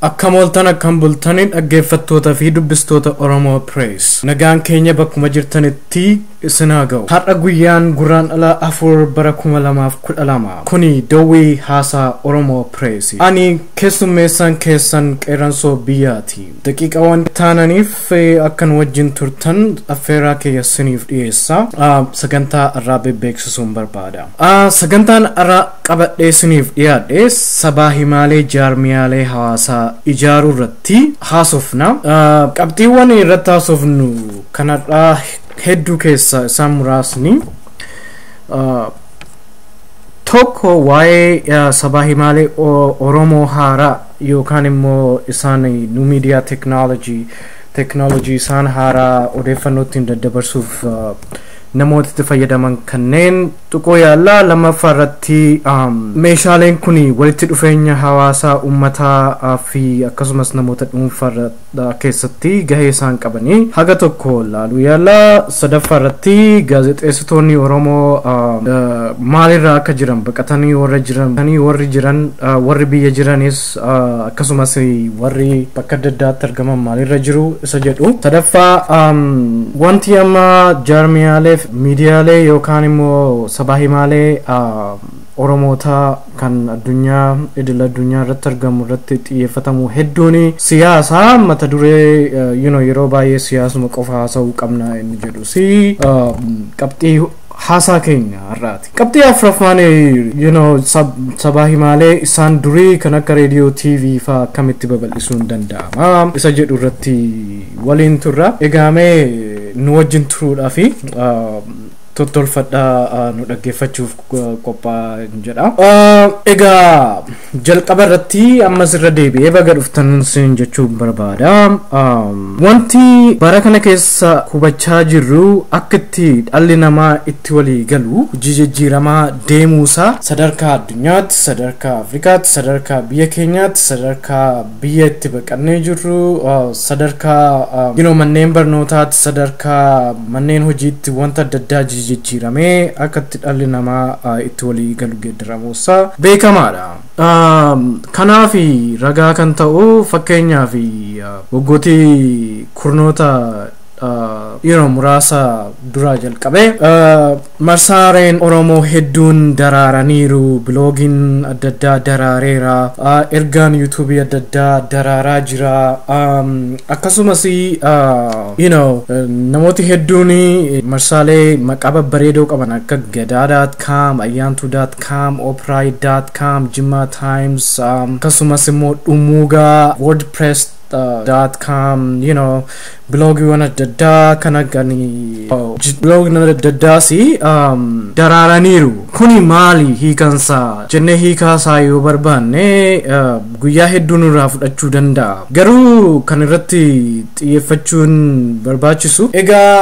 Akkam ooltan akkam bultani dhaggeeffattoota fi dubbistoota Oromoo Press. Nagaan keenya bakkuma jirtanitti isin haa ga'u. Har'a guyyaan Gurraandhala afur bara 2012. Kuni Dowwii Haasaa Oromoo Press. Ani keessummeessaan keessan qeerransoo biyyaati. Daqiiqaawwan taananiif eh, akka nu wajjin turtan affeerraa kiyya isiniif dhiyeessa. Ah, Sagantaa har'aa beeksisuun barbaada. Ah, Sagantaan har'aa qabadhee isiniif dhiyaadhe sabaa himaalee jaarmiyaalee hawaasaa ijaaruu irratti haasofna. Qabxiiwwan irratti haasofnu kan har'aa hedduu keessaa isaan muraasni tokko waa'ee sabaa himaalee Oromoo haaraa yookaan immoo isaan nu miidiyaa teeknooloojii teeknooloojii isaan haaraa odeeffannoo ittiin daddabarsuuf namooti itti fayyadaman kanneen tuquu yaalla. Lammaffaa irratti meeshaaleen kun walitti dhufeenya hawaasaa uummataa fi akkasumas namoota dhuunfaa irra keessatti gahee isaan qabanii haga tokko laaluu yaalla. Sadaffaa irratti gaazexeessitoonni Oromoo maalirra akka jiran baqatanii warra jiran warri jiran warri biyya jiranis akkasumas warri bakka adda addaatti argaman maalirra jiru isa jedhu sadaffaa wanti amma jaarmiyaaleef miidiyaalee yookaan immoo sabaa himaalee oromootaa kan addunyaa idil addunyaa irratti argamu irratti xiyyeeffatamu hedduun siyaasa mata duree yeroo baay'ee siyaasuma qofa haasa'uu qabna inni jedhu si qabxii haasaa keenya har'aati. Qabxii afraffaan you know sabaa himaalee isaan durii kan akka reediyoo TV faa akkamitti babal'isuun danda'ama isa jedhu irratti waliin turra. Egaamee nu wajjin turuudhaa fi tottolfadhaa nu dhaggeeffachuuf qophaa jedha. Egaa Jalqaba irratti ammas irra deebi'ee baga dhuftan nun siin jechuu barbaada. Um, Wanti bara kana keessa hubachaa jirru akka itti dhalli namaa itti walii galu jijijjiiramaa deemuusaa sadarkaa addunyaatti, sadarkaa Afrikaatti, sadarkaa biyya keenyaatti, sadarkaa Biyya itti baqannee jirru sadarkaa you know, manneen barnootaatti sadarkaa manneen hojiitti wanta adda addaa jijjiiramee akka itti dhalli namaa itti walii galu geeddaramuusaa beekamaadha. Kanaaf ragaa kan ta'u fakkeenyaaf waggooti kurnoota yeroo muraasa duraa jalqabee marsaareen Oromoo hedduun daraaraniiru. Biloogiin adda addaa daraareera. Ergaan yuutuubii adda addaa daraaraa jira. Akkasumas you know namooti hedduun marsaalee maqaa babbareedoo qaban akka gadaa.com, ayyaantuu.com, opraay.com, jimmaa times akkasumas immoo dhumuugaa wordpress dot com you know biloogiiwwan adda addaa kan akka biloogiin adda addaas um, daraaraniiru kuni maali hiikansaa jennee hiikaasaa yoo barbaanne uh, guyyaa hedduu nurraa fudhachuu danda'a garuu kan irratti xiyyeeffachuun barbaachisu egaa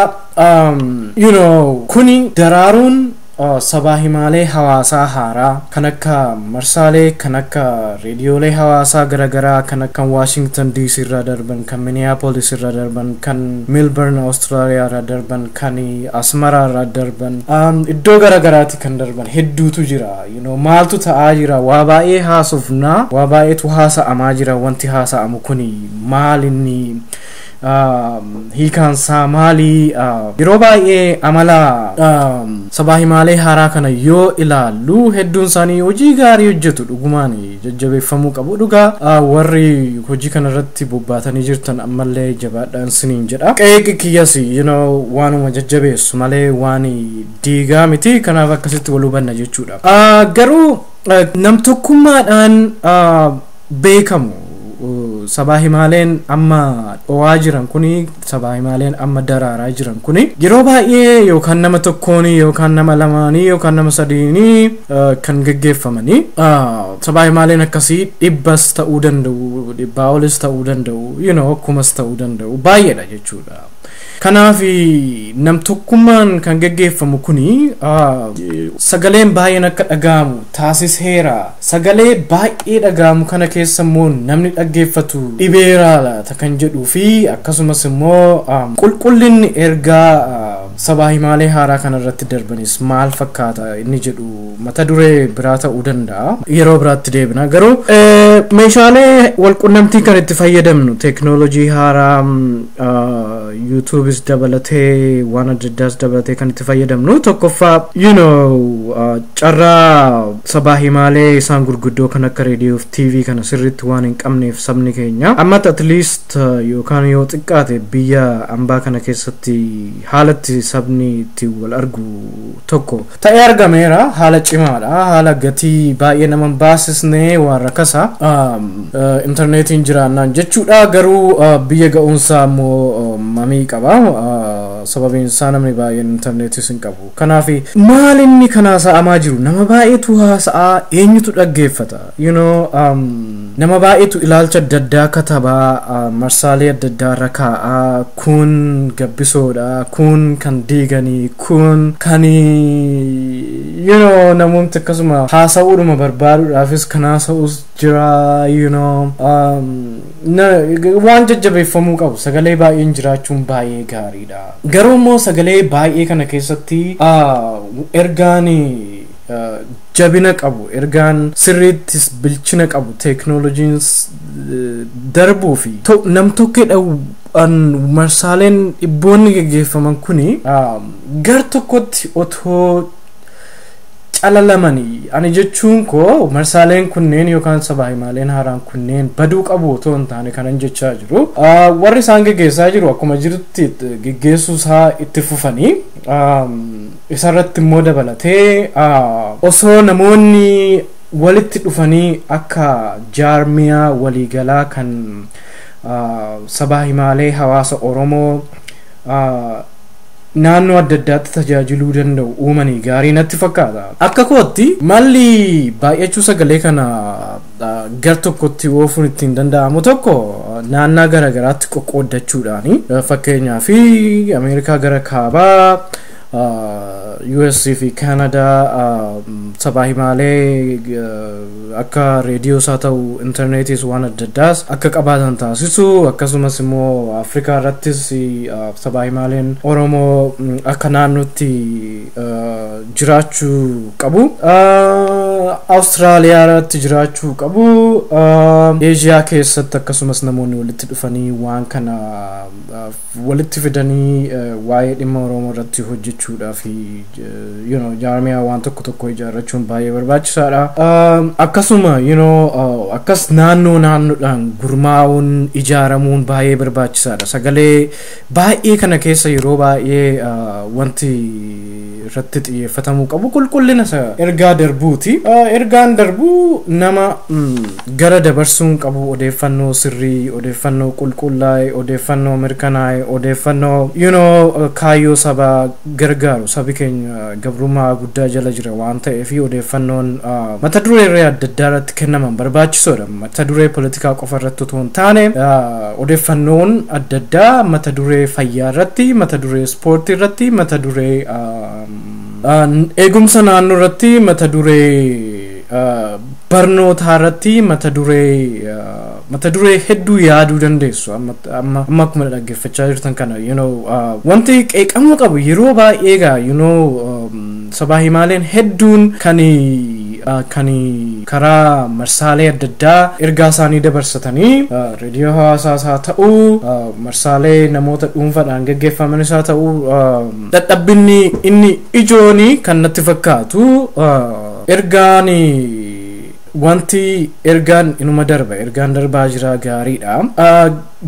um, you know kuni daraaruun Sabaa himaalee hawaasaa haaraa kan akka marsaalee kan akka reediyoolee hawaasaa gara garaa kan akkan Washington DC irraa darban kan Minneapolis irraa darban kan Melbourne Australia irraa darban kan Asmara irraa darban iddoo gara garaati kan darban hedduutu jira you know maaltu ta'aa jira waa baay'ee haasofna waa baay'eetu haasa'amaa jira wanti haasa'amu kuni maal inni hiikaan isaa maali? Yeroo baay'ee amala sabaa himaalee haaraa kana yoo ilaallu hedduun isaanii hojii gaarii hojjetu dhugumaan jajjabeeffamuu qabu dhugaa warri hojii kana irratti bobbaatanii jirtan ammallee jabaadhaan siniin jedha. Qeeqi kiyyas you know waanuma jajjabeessu malee waan diigaa miti kanaaf akkasitti wal hubanna jechuudha. Garuu namtokkummaadhaan beekamu sabaa himaaleen amma dhowaa jiran kuni sabaa himaaleen amma daraaraa jiran kuni yeroo baay'ee yookaan nama tokkooni yookaan nama lamaanii yookaan nama sadiini eh, kan geggeeffamanii ah, sabaa himaaleen akkasii dhibbas ta'uu danda'u dhibbaa olis ta'uu danda'u you know, kumas ta'uu danda'u baay'eedha jechuudha. Kanaaf namtokkummaan kan geggeeffamu kuni sagaleen baay'een akka dhaga'amu taasiseera. Sagalee baay'ee dhaga'amu kana keessa immoo namni dhaggeeffatu dhibeeraa laata kan jedhuu fi akkasumas immoo qulqullinni ergaa sabaa himaalee haaraa kanarratti darbanis maal fakkaata inni jedhu mata duree biraa ta'uu danda'a. Yeroo biraatti deebina garuu meeshaalee walqunnamtii kan itti fayyadamnu teeknoolojii haaraa yuutuubis dabalatee waan adda addaas dabalatee kan itti fayyadamnu tokkoffaa you know carraa sabaa himaalee isaan gurguddoo kan akka reediyoo fi tiivii kana sirriitti waan hin qabneef sabni keenya ammatti at least yookaan yoo xiqqaate biyya ambaa kana keessatti haalatti sabni itti wal argu tokko ta'ee argameera haala cimaadha haala gatii baay'ee nama hin baasisne waan rakasa intarneetiin jiraannaan jechuudha garuu biyya ga'uunsaa ammoo mamii qaba sababiin isaa namni baay'een intarneetis hin qabu kanaaf maalinni kanaa sa'amaa jiru nama baay'eetu haasa'aa eenyutu dhaggeeffata you know um, nama baay'eetu ilaalcha adda addaa kataba uh, marsaalee adda addaa irra kaa'a kun gabbisoodha kun kan diiganii kun kan you know namoomti akkasuma haasa'uudhuma barbaaduudhaafis kan haasa'us jira you know um, na, waan jajjabeeffamuu qabu sagalee baay'een jiraachuun baay'ee gaariidha garuu immoo sagalee baay'ee kana keessatti uh, ergaan uh, jabina qabu, ergaan sirriittis bilchina qabu, teeknooloojiinis darbuu fi nam-tokkeedhaan marsaaleen dhibboonni geggeeffaman kuni gar tokkotti otoo calalamanii, ani jechuun koo marsaaleen kunneen yookaan sabaa-himaaleen haaraan kunneen baduu qabu otoo hin taane kanan jechaa jiru, warri isaan geggeessaa jiru akkuma jirutti geggeessuu isaa itti fufanii, Isarratti immoo dabalatee osoo namoonni walitti dhufanii akka jaarmiyaa waliigalaa kan sabaa himaalee hawaasa Oromoo naannoo adda addaatti tajaajiluu danda'u uumanii gaarii natti fakkaata. Akka kootti malli baay'achuu sagalee kana gar tokkotti oofuun ittiin danda'amu tokko naannaa garaagaraatti qoqqooddachuudhaani. Fakkeenyaaf Ameerikaa gara kaabaa US fi Kaanadaa sabaa himaalee akka reediyoos haa ta'u intarneetiis waan adda addaas akka qabaatan taasisu akkasumas immoo Afrikaa irrattis sabaa himaaleen Oromoo akka naannootti jiraachuu qabu. Awustiraaliyaa irratti jiraachuu qabu. Eeshiyaa keessatti akkasumas namoonni walitti dhufanii waan kana walitti fidanii waa'ee dhimma Oromoo irratti hojjechuudhaa fi you know, jaarmiyaa waan tokko tokko ijaarrachuun baay'ee barbaachisaadha. Um, Akkasuma you know, uh, akkas naannoo naannoodhaan gurmaa'uun ijaaramuun baay'ee barbaachisaadha. Sagalee baay'ee kana keessa yeroo baay'ee uh, wanti irratti xiyyeeffatamuu qabu qulqullina isa ergaa darbuuti. Ergaan darbu nama gara dabarsuun qabu odeeffannoo sirrii, odeeffannoo qulqullaa'e, odeeffannoo mirkanaa'e, odeeffannoo you know kaayyoo sabaa gargaaru sabi keenya gabrummaa guddaa jala jira waan ta'eef odeeffannoon mata dureerree adda addaa irratti kennaman barbaachisoodha. Mata duree politikaa qofa irratti otoo hin taane odeeffannoon adda addaa mata duree fayyaa irratti, mata duree Ispoortii irratti mata duree eegumsa naannoo irratti mata duree barnootaa irratti mata duree mata duree hedduu yaaduu dandeessu amma amma amma akkuma dhaggeeffachaa jirtan kana you know wanti qeeqamuu qabu yeroo baay'ee gaa you know Sabaa himaaleen hedduun kan kan karaa marsaalee adda addaa ergaa isaanii dabarsatanii reediyoo hawaasaas haa ta'u marsaalee namoota dhuunfaadhaan gaggeeffamanis haa ta'u dadhabbinni inni ijooni kan natti fakkaatu ergaan Wanti ergaan inuma darba ergaan darbaa jira gaariidha.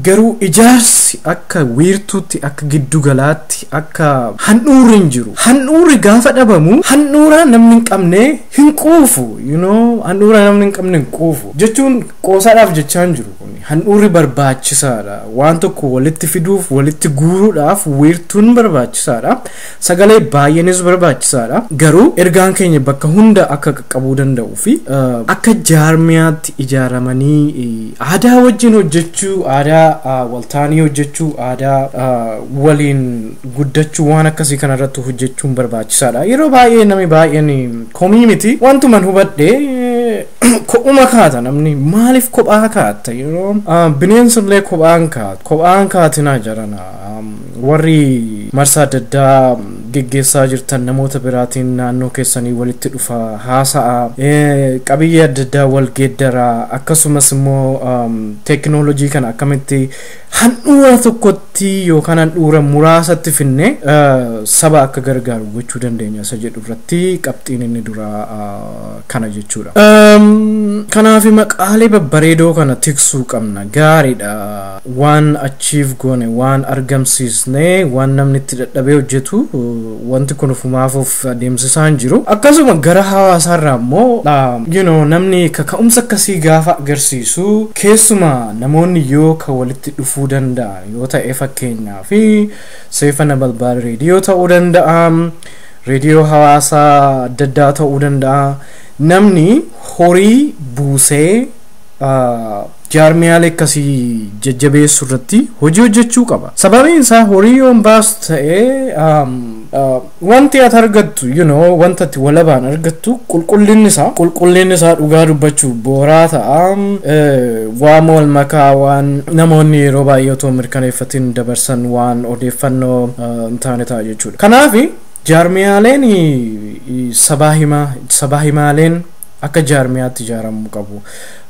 Garuu ijaarsi akka wiirtuutti akka giddu galaatti akka handhuurri hin jiru. Handhuurri gaafa dhabamu handhuura namni hin qabne hin quufu. You know handhuura namni hin qabne hin quufu. Jechuun qoosaadhaaf jechaa hin jiru kun. Handhuurri barbaachisaadha. Waan tokko walitti fiduuf walitti guuruudhaaf wiirtuun barbaachisaadha. Sagalee baay'eenis barbaachisaadha. Garuu ergaan keenya bakka hunda akka qaqqabuu danda'uu fi akka jaarmiyaatti ijaaramanii aadaa wajjin hojjechuu, aadaa waltaanii hojjechuu, aadaa waliin guddachuu waan akkasii kanarratti hojjechuun barbaachisaadha. Yeroo baay'ee namni baay'een komii miti wantuman hubadhe kophuma kaata namni maaliif kophaa kaatta yeroo bineensillee kophaan kaata kophaan kaatinaa jarana Warri marsaa adda addaa geggeessaa jirtan namoota biraatiin naannoo keessanii walitti dhufaa, haasa'aa, qabiyyee adda addaa wal geeddaraa akkasumas immoo teekinooloojii kana akkamitti handhuura tokkotti yookaan handhuura muraasatti finne saba akka gargaaru gochuu dandeenya isa jedhu irratti qabxiin inni duraa kana jechuudha. Kanaaf maqaalee babbareedoo kana tiksuu qabna gaariidha. Waan achieve goone, waan argamsiisne, waan namni itti dadhabee hojjetu wanti kun ofumaaf of adeemsisaa hin jiru. Akkasuma gara hawaasaarraa immoo you know, namni kaka'umsa akkasii gaafa agarsiisu keessuma namoonni yoo ka walitti dhufuu danda'an yoo ta'e fakkeenyaa fi seefa nabalbaal reediyoo ta'uu danda'a reediyoo hawaasaa adda addaa ta'uu danda'a namni horii buusee jaarmiyaalee akkasii jajjabeessuu irratti hojii hojjechuu qaba. Sababiin isaa horii yoo hin baasu ta'e um, uh, wanti ati argattu you know, wanta ati walabaan argattu qulqullinni isaa qulqullinni isaa dhugaa dubbachuuf booraa ta'a. Um, eh, waan wal makaa waan namoonni yeroo baay'ee otoo hin mirkaneeffatiin dabarsan waan odeeffannoo uh, hin taane ta'a jechuudha. Kanaaf jaarmiyaaleen eh, sabaa himaa sabaa himaaleen akka jaarmiyaatti ijaaramuu qabu.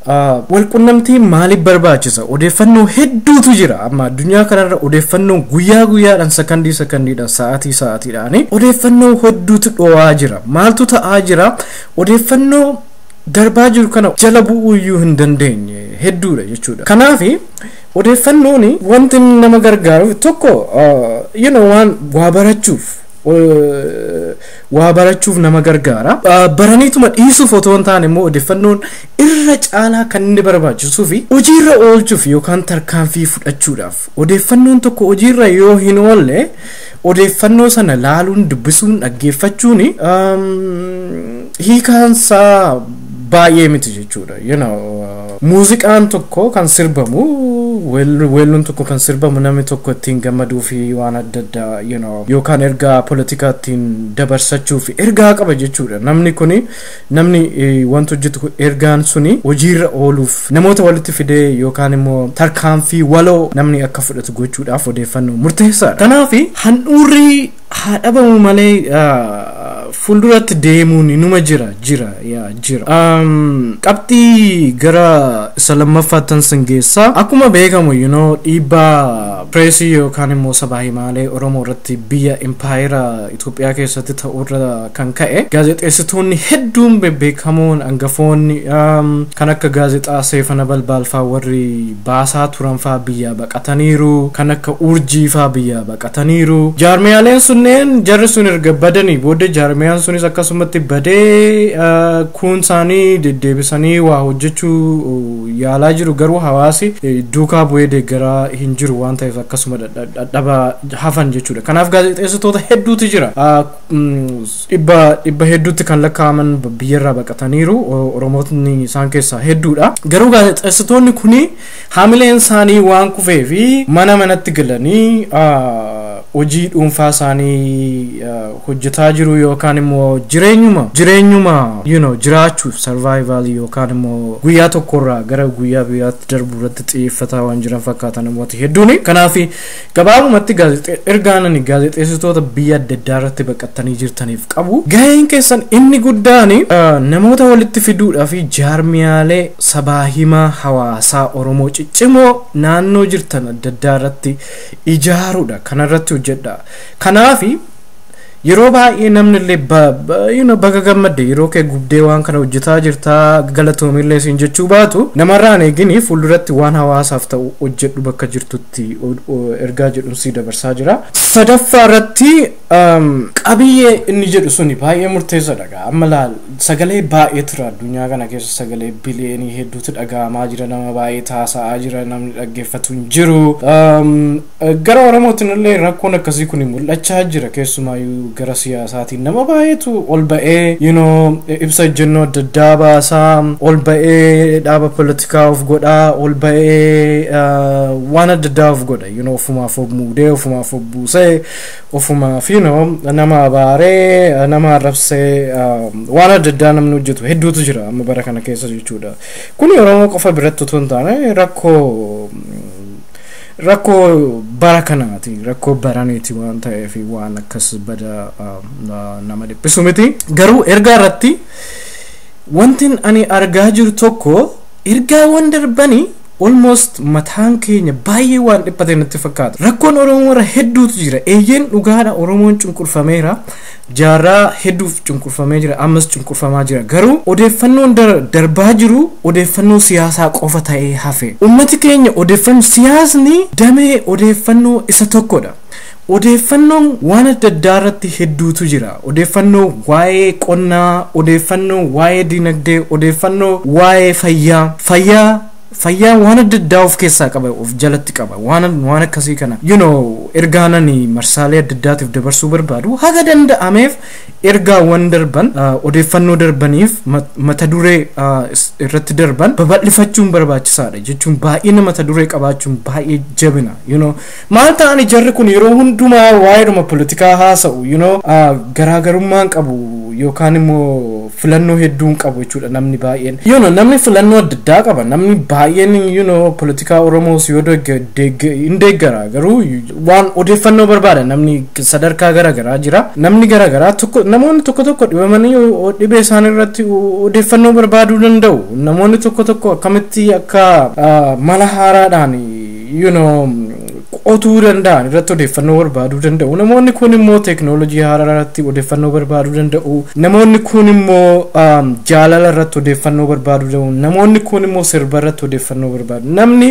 Walqunnamtiin maaliif barbaachisa? Odeeffannoo hedduutu jira. Amma addunyaa kanarra odeeffannoon guyyaa guyyaadhaan sakandii sakandiidhaan sa'aatii sa'aatiidhaan odeeffannoo hedduutu dho'aa jira. Maaltu ta'aa jira? Odeeffannoo darbaa jiru kana jala bu'uu iyyuu hin dandeenye hedduudha jechuudha. Kanaaf odeeffannoon wanti nama gargaaru tokko you know, waan waa barachuuf waa barachuuf nama gargaara. Baraniituma dhiisuuf otoo hin taane immoo odeeffannoon irra caalaa kan inni barbaachisuu fi hojiirra oolchuuf yookaan tarkaanfii fudhachuudhaaf odeeffannoon tokko hojiirra yoo hin oolle odeeffannoo sana laaluun dubbisuun dhaggeeffachuun hiikaansaa baay'ee miti jechuudha. Muuziqaan tokko kan sirbamu, weell- weelluun tokko kan sirbamu namni tokko ittiin gammaduu fi waan adda addaa you know, yookaan ergaa politikaa ittiin dabarsachuu fi ergaa qaba jechuudha. Namni kuni namni eh, wanta hojjetu kun ergaan suni hojiirra ooluuf namoota walitti fidee yookaan immoo tarkaanfii waloo namni akka fudhatu gochuudhaaf odeeffannoo murteessaadha. Kanaaf handhuurri haa dhabamu malee fuulduratti deemuun inuma jira jira yaa jira. Qabxii gara isa lammaffaattan sin geessa. Akkuma beekamu you know dhiibbaa pireesii yookaan immoo sabaa himaalee Oromoo irratti biyya impaayera Itoophiyaa keessatti ta'urra kan ka'e gaazexeessitoonni hedduun bebbeekamoon angafoonni kan akka gaazexaa Seefana Balbaalfaa warri baasaa turan faa biyyaa baqataniiru, kan akka Urjii faa biyyaa baqataniiru. Jaarmiyaaleen sunneen jarri sun erga badanii booda jaarmiyaan sunis akkasumatti badee kuun isaanii deddeebisanii waa hojjechuu yaalaa jiru garuu hawaasi duukaa bu'ee deeggaraa hin jiru waan ta'eef akkasuma dhadhaba hafan jechuudha. Kanaaf gaazexeessitoota hedduutu jira. dhibba dhibba hedduutti kan lakkaa'aman biyyarraa baqataniiru oromootni isaan keessaa hedduudha garuu gaazexeessitoonni kun haamileen isaanii waan kufee fi mana manatti galanii hojii dhuunfaa isaanii hojjetaa jiru yookaan immoo jireenyuma jireenyuma you know jiraachuuf survival yookaan immoo guyyaa tokkorraa gara guyyaa biraatti darbu irratti xiyyeeffataa waan jiran fakkaata namooti hedduuni kanaaf Gabaabumatti gaazexe ergaan ani gaazexeessitoota biyya adda addaa irratti baqattanii jirtaniif qabu gaheen keessan inni guddaan namoota walitti fiduudhaa fi jaarmiyaalee sabaa himaa hawaasaa Oromoo ciccimoo naannoo jirtan adda addaa irratti ijaaruudha kanarratti hojjedha kanaafi yeroo baay'ee namni illee ba- ba- you know, baga gammadde yeroo kee gubdee waan kana hojjetaa jirtaa galatoomillee siin jechuu baatu namarraan eegini fuulduratti waan hawaasaaf ta'u hojjedhu bakka jirtutti tti ergaa jedhun sii dabarsaa jira. Sadaffaa irratti qabiyyee inni jedhu suni baay'ee murteessadha gaa amma laal sagalee baay'ee tura addunyaa kana keessa sagalee biliyeenii hedduutu dhaga'amaa jira nama baay'ee taasa'aa jira namni dhaggeeffatu hin jiru gara oromootiin illee rakkoon akkasii kun mul'achaa jira keessumaayyuu gara siyaasaatiin nama baay'eetu ol ba'ee you know ibsa ejjennoo adda addaa baasaa ol ba'ee dhaaba xiqqaa of godhaa ol ba'ee waan adda addaa of godha you know ofumaaf of muudee ofumaaf of buusee ofumaaf you know nama abaaree nama arrabsee waan adda addaa namni hojjetu hedduutu jira amma bara kana keessa jechuudha kuni oromoo qofa biratti otoo hin taane rakkoo rakkoo bara kanaati rakkoo baraniiti waan ta'eef waan akkas bada nama dhiphisu miti garuu ergaa irratti Wantin ani argaa jiru tokko ergaawwan darbani almost mataan keenya baay'ee waan dhiphate natti fakkaata. Rakkoon Oromoo irra hedduutu jira. Eeyyeen dhugaadha Oromoon cunqurfameera. Jaarraa hedduuf cunqurfamee jira. Ammas cunqurfamaa jira. Garuu odeeffannoon dar- darbaa jiru odeeffannoo siyaasaa qofa ta'ee hafe. Ummati keenya odeeffannoo siyaasni damee odeeffannoo isa tokkodha. Odeeffannoon waan adda addaa irratti hedduutu jira. Odeeffannoo waa'ee qonnaa, odeeffannoo waa'ee dinagdee, odeeffannoo waa'ee fayyaa, fayyaa fayyaan waan adda addaa of keessaa qaba of jalatti qaba waan waan akkasii kana you know ergaan ani marsaalee adda addaatiif dabarsuu barbaadu haga danda'ameef ergaawwan darban uh, odeeffannoo darbaniif mat- mata duree uh, is- irratti darban babal'ifachuun barbaachisaadha jechuun baay'ina mata duree qabaachuun baay'ee jabina you know Maal ta'ani jarri kun yeroo hundumaa waa'eedhuma politikaa haasa'u you know garaagarummaa hin qabu yookaan immoo filannoo hedduu hin qabu jechuudha namni baay'een you know namni filannoo adda addaa qaba namni baay'een you know politikaa oromoos yoo degge- degge- hin deeggara garuu waan odeeffannoo barbaada namni sadarkaa garaagaraa jira namni garaagaraa tokko namoonni tokko tokko dhibamanii o- dhibee isaanii irratti o- odeeffannoo barbaaduu danda'u namoonni tokko tokko akkamitti akka ah, mala haaraadhaan you know, qotuu danda'an irratti odeeffannoo barbaaduu danda'u. Namoonni kun immoo teeknoolojii haaraa irratti odeeffannoo barbaaduu danda'u. Namoonni kun immoo um, jaalala irratti odeeffannoo barbaaduu danda'u. Namoonni kun immoo sirba irratti odeeffannoo barbaadu. Namni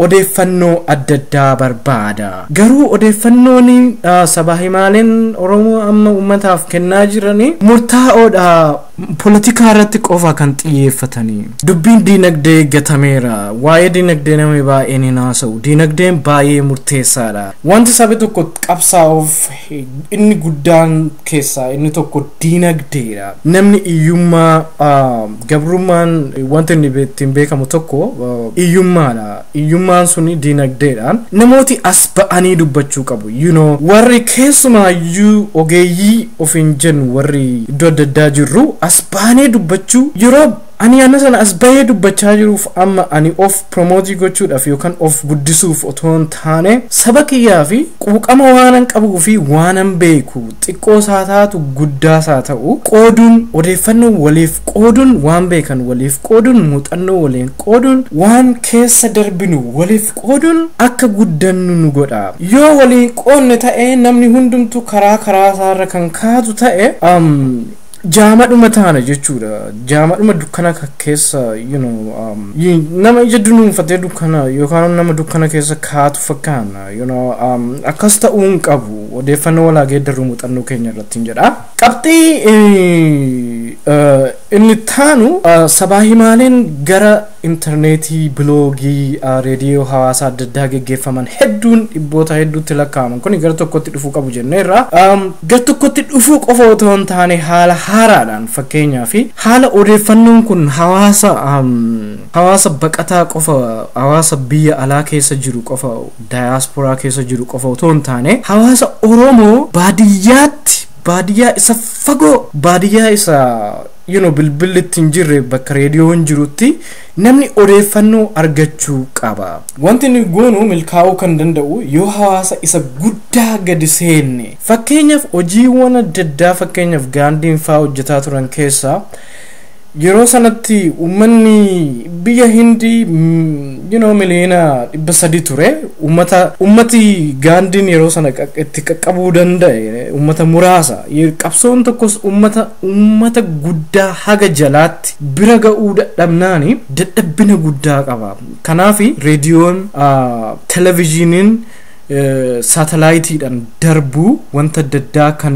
odeeffannoo adda addaa barbaada. Garuu odeeffannoon uh, sabaa himaaleen Oromoo amma uummataaf kennaa jiranii murtaa'oodha Polotikaa irratti qofa kan xiyyeeffatani. Dubbiin diinagdee gatameera. Waa'ee diinagdee namni baay'een hin haasa'u. Diinagdeen baay'ee murteessaadha. Wanti sabi tokko qabsaa'uuf inni guddaan keessaa inni tokko diinagdeedha. Namni hiyyummaa gabrummaan wanti inni ittiin beekamu tokko hiyyummaadha. iyyummaan suni diinagdeedhaan namooti as ba'anii dubbachuu qabu you know warri keessumaayyuu ogeeyyii ofiin jennu warri iddoo adda addaa jirru as baanee dubbachuu yeroo ani ana sana as bahee dubbachaa jiruuf amma ani of promootii gochuudhaaf yookaan of guddisuuf otoo hin taane saba kiyyaa fi quuqama waanan qabuu fi waanan beeku xiqqoo isaa taatu guddaa isaa ta'u qooduun odeeffannoo waliif qooduun waan beekan waliif qooduun muuxannoo waliin Qooduun, Waan keessa darbinu waliif qooduun akka guddannu nu godha. Yoo wal hin qoodne ta'e, namni hundumtuu karaa karaasaarra kan kaatu ta'e, jaamadhuma taana jechuudha. Jaamadhuma dukkana keessa you know, nama ija dunuunfatee dukkana yookaan nama dukkana keessa kaatu fakkaanna. You know, akkas ta'uu hin qabu. Odeeffannoo wal haa geeddarru muuxannoo keenya irratti hin jedha. Qabxii inni ittaanu sabaa himaaleen gara intarneetii, biloogii, reediyoo hawaasaa adda addaa geggeeffaman hedduun dhibboota hedduutti lakkaa'aman kuni gara tokkotti dhufuu qabu jenneerra. Gara tokkotti dhufuu qofa otoo hin taane haala haaraadhaan fakkeenyaaf haala odeeffannoon kun hawaasa hawaasa baqataa qofa hawaasa biyya alaa keessa jiru qofa Dayaasporaa keessa jiru qofa otoo hin taane hawaasa Oromoo baadiyyaatti baadiyyaa isa fagoo baadiyyaa isa you know bilbilli itti hin jirre bakka reediyoon jirutti namni odeeffannoo argachuu qaba. Wanti nuyi goonu milkaa'uu kan danda'u yoo hawaasa isa guddaa gadi seenne fakkeenyaaf hojiiwwan adda addaa fakkeenyaaf gaandiin faa hojjetaa turan keessaa Yeroo sanatti uummanni biyya Hindi you know, miliyoona dhibba sadii ture. Uummata uummati gaandiin yeroo sana qaq- itti qaqqabuu danda'e uummata muraasa. Ye- Qabsoon tokkos uummata uummata guddaa haga jalaatti bira ga'uu dadhabnaani dadhabbina guddaa qaba. Kanaafi reediyoon, ah, televezyiiniin saatalaayitiidhaan darbu wanta adda addaa kan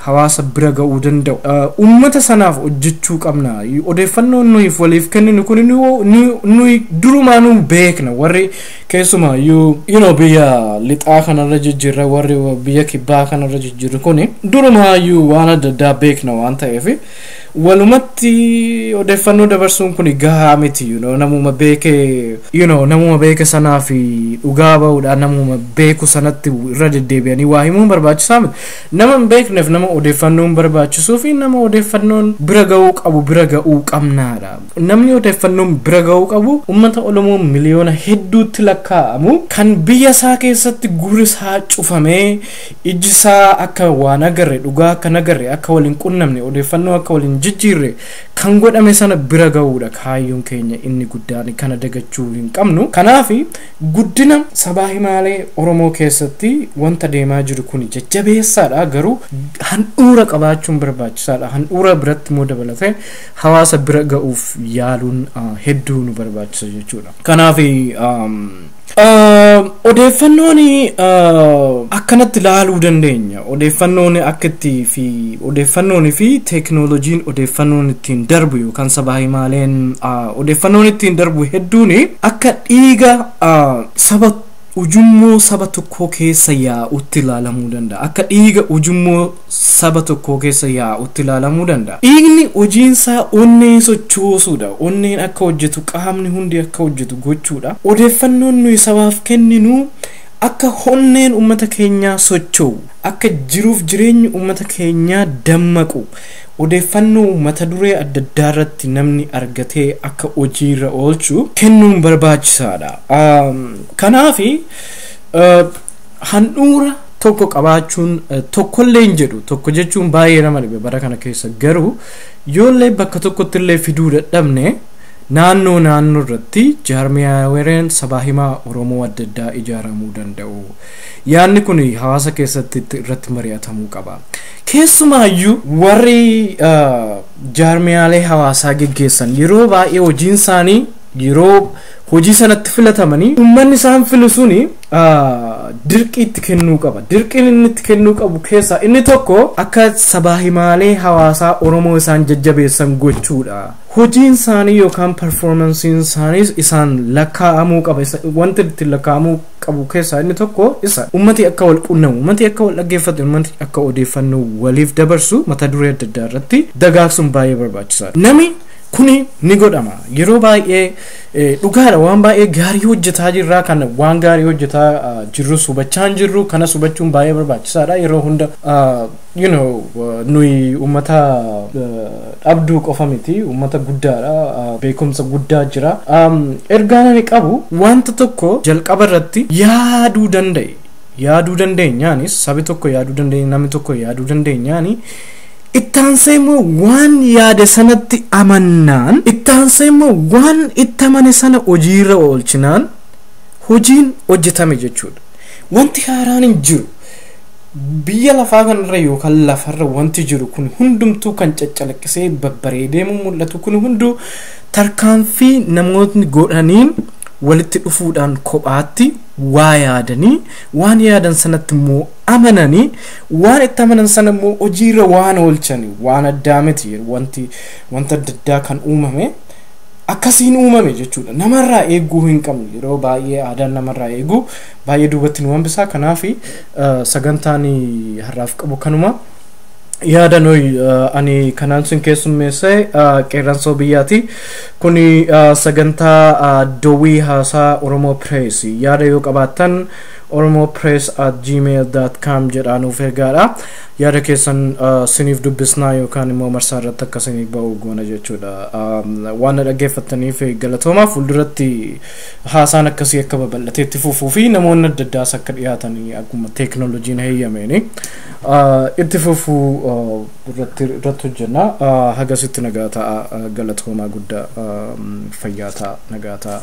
hawaasa bira ga'uu danda'u uummata sanaaf hojjechuu qabna odeeffannoo nuyiif waliif kenninu kun nuyi durumaa nu beekna warri keessumaa yoo biyya lixaa kanarra jijjiirra warri biyya kibbaa kanarra jijjiirru kun durumaa waan adda addaa beekna waan ta'eef Walumatti odeeffannoo dabarsuun kun gahaa miti you know, namuma beeke you know, namuma beeke sanaa fi dhugaa ba'uudhaan namuma beeku sanatti irra deddeebi'anii waa himuun barbaachisaa miti. Nama hin beekneef nama odeeffannoon barbaachisuu fi nama odeeffannoon bira ga'uu qabu bira ga'uu qabnaadha. Namni odeeffannoon bira ga'uu qabu uummata Oromoo miliyoona hedduutti lakkaa'amu kan biyya isaa keessatti gurri isaa cufamee Ijji isaa akka waa nagarre, dhugaa akka nagarre, akka wal hin qunnamne, odeeffannoo akka wal hin jijjiirre kan godhame sana bira gahuudha kaayyoon keenya inni guddaan. Kana dagachuu hin qabnu. Kanaaf guddina sabaa himaalee Oromoo keessatti wanta deemaa jiru kuni jajjabeessaadha garuu handhuura qabaachuun barbaachisaadha. Handhuura biratti immoo dabalatee hawaasa bira ga'uuf yaaluun hedduu nu barbaachisa jechuudha. Kanaaf Odeeffannoon akkanatti laaluu dandeenya. Odeeffannoon akka itti fi odeeffannoon fi teeknooloojiin odeeffannoon ittiin darbu yookaan sabaa himaaleen odeeffannoon ittiin darbu hedduun akka dhiiga saba ujummoo saba tokkoo keessa yaa'utti ilaalamuu danda'a. Akka dhiiga ujummoo saba tokkoo keessa yaa'utti ilaalamuu danda'a. Dhiigni hojiinsaa onnee sochoosuudha. Onneen akka hojjetu, qaamni hundi akka hojjetu gochuudha. Odeeffannoon nuyi sabaaf kenninu akka onneen ummata keenyaa socho'u, akka jiruuf jireenyi ummata keenyaa dammaqu, odeeffannoo mata duree adda addaarratti namni argatee akka hojiirra oolchu kennuun barbaachisaadha. Kanaafi Handhuura tokko qabaachuun tokkollee hin jedhu tokko jechuun baay'ee nama dhibe bara kana keessa garuu yoollee bakka tokkotti illee fiduu dadhabne naannoo naannoo irratti jaarmiyaawereen sabaa himaa Oromoo adda addaa ijaaramuu danda'u. Yaanni kun hawaasa keessatti itti- irratti mari'atamuu qaba. Keessumaayyuu warri ah, jaarmiyaalee hawaasaa geggeessan yeroo baay'ee hojiin isaanii yeroo hojii sanatti filatamanii uummanni isaan filu suni dirqii itti kennuu qaba. Dirqiin inni itti kennuu qabu keessaa inni tokko akka sabaa himaalee hawaasaa Oromoo isaan jajjabeessan gochuudha. Hojiin isaanii yookaan performansiin isaaniis isaan lakkaa'amuu qaba. Wanti ittiin lakkaa'amuu qabu keessaa inni tokko isa. Ummati akka wal qunnamu, ummati akka wal dhaggeeffatu, ummati akka odeeffannoo waliif dabarsu mata duree adda addaa irratti dagaagsuun baay'ee barbaachisaadha. Nami kuni ni godhama. Yeroo baay'ee Dhugaadha waan baay'ee gaarii hojjetaa jirra kan waan gaarii hojjetaa jirrus hubachaa hin jirru kanas hubachuun baay'ee barbaachisaadha yeroo hunda you know nuyi uummata dhabduu qofa miti uummata guddaadha beekumsa guddaa jira ergaan ani qabu wanta tokko jalqaba irratti yaaduu danda'i yaaduu dandeenyaanis sabi tokko yaaduu dandeenye namni tokko yaaduu dandeenyaani Itti aansee immoo waan yaade sanatti amannaan, itti aansee immoo waan itti amane sana hojiirra oolchinaan hojiin hojjetame jechuudha. Wanti haaraan hin jiru. Biyya lafaa kanarra yookaan lafarra wanti jiru kun hundumtuu kan caccalaqqisee babbareedee mul'atu kun hunduu tarkaanfii namootni godhaniin walitti dhufuudhaan kophaatti waa yaadanii waan yaadan sanatti immoo amanani waan itti amanan sana immoo hojiirra waan oolchani waan addaa miti wanti wanta adda addaa kan uumame akkasiin uumame jechuudha namarraa eeguu hin qabnu yeroo baay'ee aadaan namarraa eeguu baay'ee duubatti nu hambisaa kanaaf eh, sagantaan har'aaf qabu kanuma yaada nuyi eh, ani kanaan sin keessummeesse eh, qeerransoo biyyaati kuni eh, sagantaa eh, dowwii haasaa oromoo pirees yaada yoo qabaattan oromopress@gmail.com jedhaa nuuf ergaadha. Yaada keessan siniif dubbisnaa yookaan immoo marsaa irratti akka sinii ba'u goona jechuudha. Waan na dhaggeeffattaniif galatoomaa fuulduratti haasaan akkasii akka babal'atee itti fufuu fi namoonni adda addaas akka dhiyaatan akkuma teeknooloojiin heeyyameeni itti fufuu irratti irratti hojjenna. Hagasitti nagaa ta'a galatoomaa guddaa fayyaa ta'a nagaa ta'a.